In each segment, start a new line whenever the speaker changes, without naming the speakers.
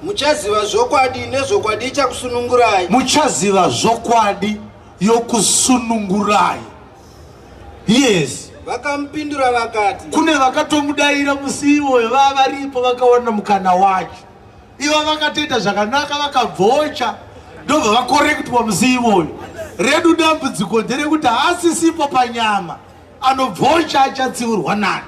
Muchaziva zvokwadi nezvokwadi ichakusunungurai. Muchaziva
zvokwadi yokusunungurai. Yes. Vakamupindura
vakati. Kune vakatomudaira
musi iwoyo vava varipo vakawana mukana wacho. Ivo vakatoita zvakanaka vakabvocha ndobva vakorektwa musi iwoyo. Redu dambudziko nderekuti haasisipo panyama anobvocha achatsiurwa nani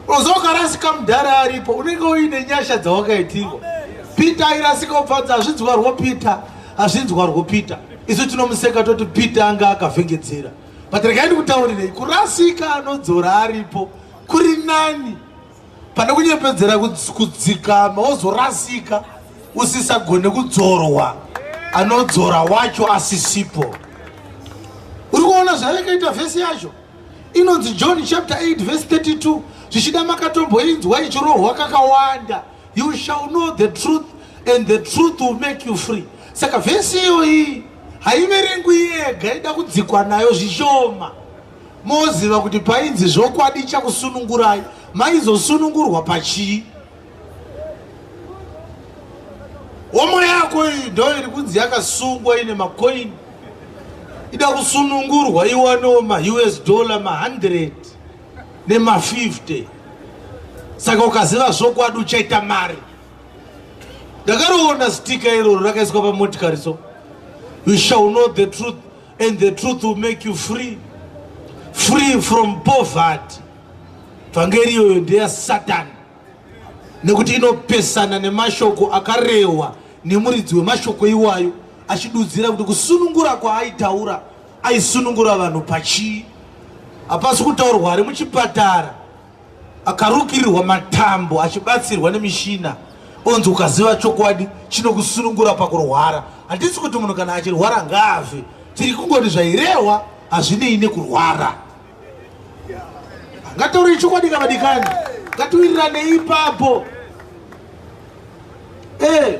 unozoka rasika mudhara aripo unenge uine nyasha dzawakaitirwa peter airasika upfadza hazvinzwarwo peter hazvinzwarwo peter isu tinomuseka toti peter anga akavhengedzera but regai ndikutaurirei kurasika anodzora aripo kuri nani pane kunyepedzera kudzikama wozorasika usisagone kudzorwa anodzora wacho asisipo uri kuona zvayakaita vhesi yacho inonzi john chapter 8 vhesi 32 zvichida makatomboinzwa ichirohwa kakawanda you shall know the truth and the truth will make you free saka vhesi iyoyi haiverengwi yega ida kudzikwa nayo zvishoma Moziva kuti painzi zvokwadi chakusunungurai maizosunungurwa pachii? Homo yako iyi ndo iri kunzi yakasungwa ine makoini ida kusunungurwa iwanewo maus dollar ma100 nema50 saka ukaziva zvokwadi uchaita mari ndakaroona stika iroro rakaiswa pamotikari so you shall know the truth And the truth will make you free. Free from poverty. Vhangeri iyoyo ndeya Satan. Nekuti inopesana nemashoko akarewa nemuridzi wemashoko iwayo achidudzira kuti kusunungura kwaaitaura aisunungura vanhu pachii. Hapasi kutaurwa ari muchipatara. Akarukirirwa matambo achibatsirwa nemishina onzi ukaziva chokwadi chinokusunungura pakurwara. Hatisi kuti munhu kana achirwara ngaafe, tiri kungoti zvairehwa hazvinei nekurwara. Ngataurei chokwadi kavadikani, ngatiwirirane ipapo. Eh.